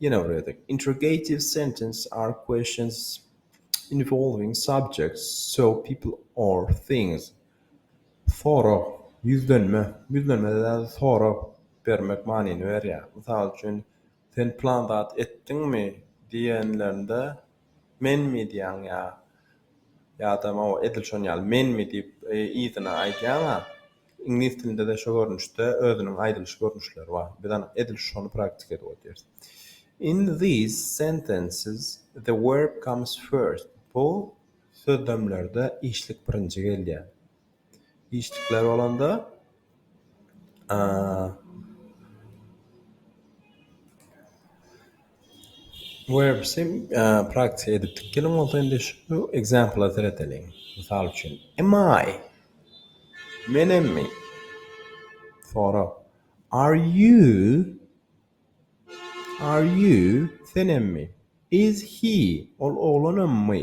Ýene bir gezek, Interrogative sentences are questions involving subjects, so people or things. Sorag, ýüzlenme, ýüzlenmede däl, sorag bermek manyny berýär. Mysal üçin, Sen plan zat etdiňmi? diýenlerinde, Menmi diýýäň ýa ýa-da mawy edil şon ýaly menmi diýip yzyna aýdýaň-a. Iňlis dilinde-de şo görnüşde özüniň aýdylyş görnüşleri bar. Biz anyk edil şony praktika edip otyrs. In these sentences the verb comes first. Bu sözlemlerde işlik birinji gelýär. işlikler bolanda werbsim praktika edipdik geliň bolsa indi şu ekzempla seredeliň mysal üçin am i menmi sorag are you are you senemmi is he ol oglanammy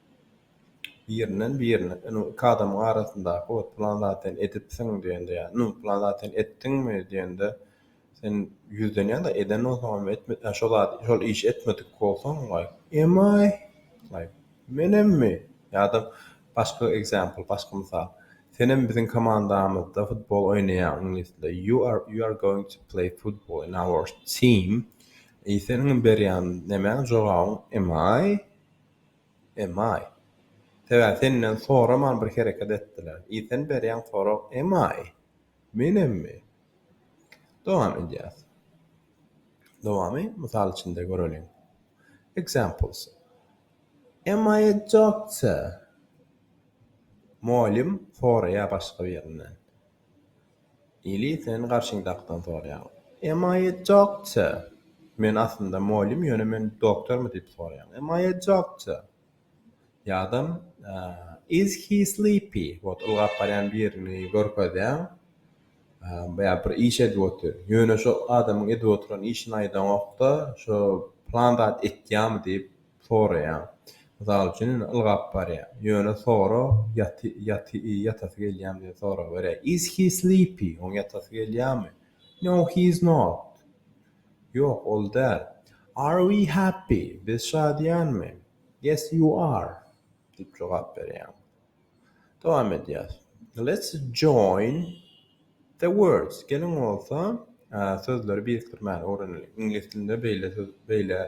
birinden birine ynha iki adamyň arasyndaky ot plan zat sen edipsiň diýende ýa ynha plan zat sen etdiňmi diýende sen ýüzlenýäň-de eden bolsaňam etme ýa şo zat şol işi etmedik bolsaň wai emaý wai menemmi ýa-da başga example başga mysal senem biziň komandamyzda futbol oýnaýaň iňlis dilinde you are you are going to play football in our team e seniň berýän nämäň jogabyň emaý Emaý. Sebäbi senden soraman bir hereket etdiler. I sen berýän sorag emaý. Menemmi? Dowam edýäs. Dowamy mysal içinde göreliň. Examples, Am I a doctor? Mugallym soraýar başga birinden. Ili sen garşyňdakydan soraýaň. Emma aýtjakça, men aslynda mugallym, ýöne men doktormy diýip soraýaň. Emma aýtjakça. Ýa-da, Is he sleepy? Wot, ylgap barýan birini görkezýäň. Ýa bir iş edip otyr. Ýöne şo adamyň edip oturan işini aýdaňok-da, şo plan zat etýärmi diýip. Soraýaň. Mysal üçin, indi ylgap barýan. Ýöne sora, ýaty, ýaty, ýatasy gelýämi diýip sorawerýär. Is he sleepy? Oň ýatasy gelýärmi? No, he is not. Ýok, ol däl. Are we happy? Biz şadyýanmy? Yes, you are. Diýip jogap berýäň. Dowam edýäs. Let's join the words. Geliň bolsa, sözleri birikdirmäni öwreneliň. Iňlis dilinde beýle söz, beýle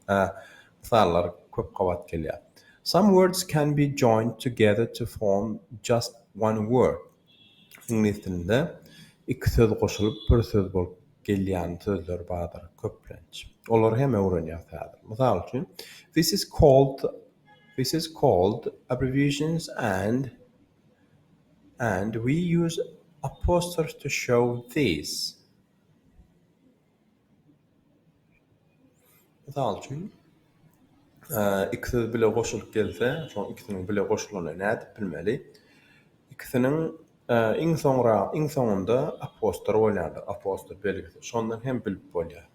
mysallar köp gabat gelýär. Some words can be joined together to form just one word. Iňlis dilinde iki söz goşulyp bir söz bolup gelýän sözler bardyr köplenç. Olary hem öwrenýäs häzir. Mysal üçin, This is called This is called abbreviations and and we use apostrophes to show these. Mysal üçin, iki söz bile goşulyp gelse, şoň ikisiniň bile goşulanyny nädip bilmeli? Ikisiniň iň soňra, iň soňunda apostrof bolýandyr, apostrof belgisi. Şondan hem bilip bolýar.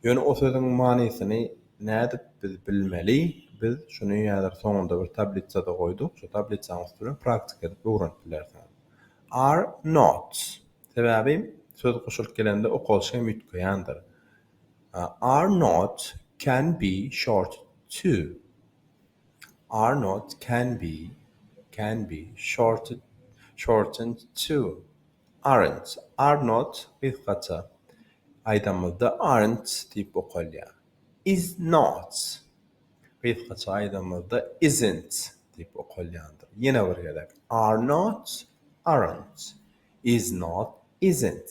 Ýöne o sözüň manysyny nädip biz bilmeli? Biz şuny häzir soňunda bir tablitsada goýduk, şu tablitsanyň üstüne praktika edip öwrenip bilersiňiz. Are not. Sebäbi söz goşulyp gelende okalşy hem üýtgeýändir. Are not can be shorted to. are not can be can be shorted shortened to aren't are not gysgaça aýdanymyzda aren't diýip okalýar is not gysgaça aýdanymyzda isn't diýip okalýandyr ýene bir gezek are not aren't is not isn't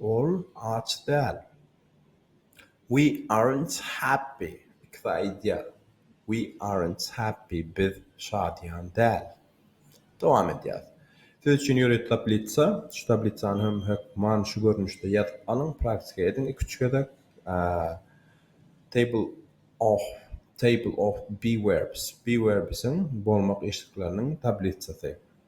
Ol aç däl. We aren't happy, ikisi aýdýar. We aren't happy, biz şadyýan däl. Dowam edýäs. Siz üçin ýörite tablitsa, şu tablitsany hem hökman şu görnüşde ýazyp alyň, praktika ediň iki-üç gezek. Table of, table of be verbs, be verbsiň, bolmak işlikleriniň, tablitsasy.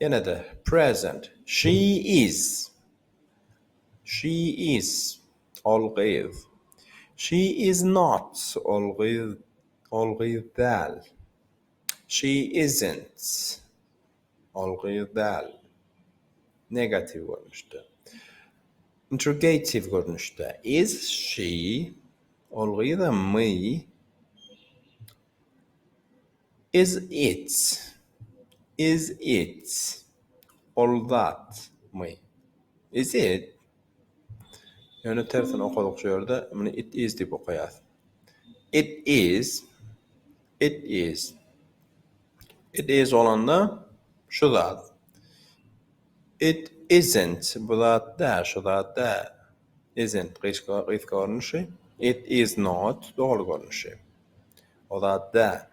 Ýene-de, present, She is. She is, ol gyz. She is not, ol gyz, ol gyz däl. She isn't, ol gyz däl. Negatiw görnüşde. Interrogatiw görnüşde, Is she, ol gyzamy? Is it? Is it? Ol zatmy? Is it? Ýöne tersine okadyk şu ýerde, muny it is diýip okaýas. It is? It is? It is bolanda şu zat. It isn't? Bu zat däl, şu zat däl. Isn't, gysga, gysga görnüşi. It is not, dogry görnüşi. O zat däl.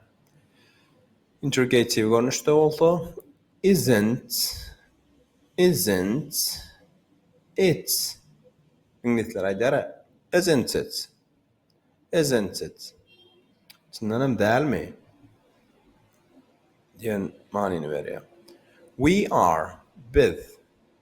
Interrogatiw görnüşde bolsa, Isn't, isn't it? Iňlisler aýdar-a, Isn't it? Isn't it? Çyndan hem dälmi? diýen manyny berýär. We are, biz.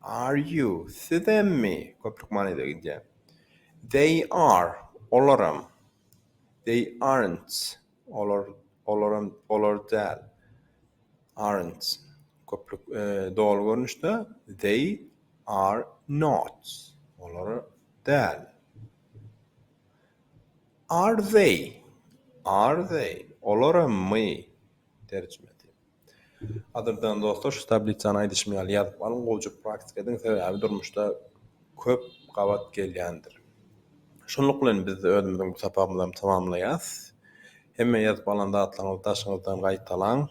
Are you, sizemmi? Köplük manyda gidýär. They are, olaram. They aren't, olar, olaram, olar däl. Aren't, köplük, doly görnüşde, They are not, olar däl. Are they, are they, olarammy? Terjime et. Adyrdan dostlar şu tablisany aýdyşym ýaly ýazyp alyň gowjyk praktika ediň sebäbi durmuşda köp gabat gelýändir. Şunluk bilen biz özümiziň bu sapagymyzam tamamlaýas. Hemme ýazyp alan zatlaryňyzy daşyňyzdan gaýtalaň.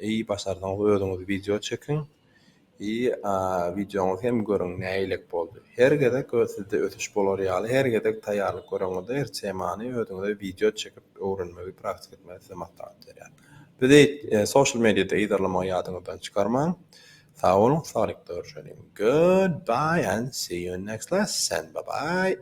Eý başarsaňyz özüňiz wideo çekiň. Hi a wideoňyzy hem görüň nähilek boldy. Her gezek öz sizde ösüş bolar ýaly her gezek taýýarlyk göreňizde her temany özüňize wideo çekip öwrenmegi praktik etmegi size maslahat berýän. Bizi social mediada yzarlamagy ýadyňyzdan çykarmaň. Sag boluň saglykda görşeliň. Goodbye and see you next lesson. Bye bye.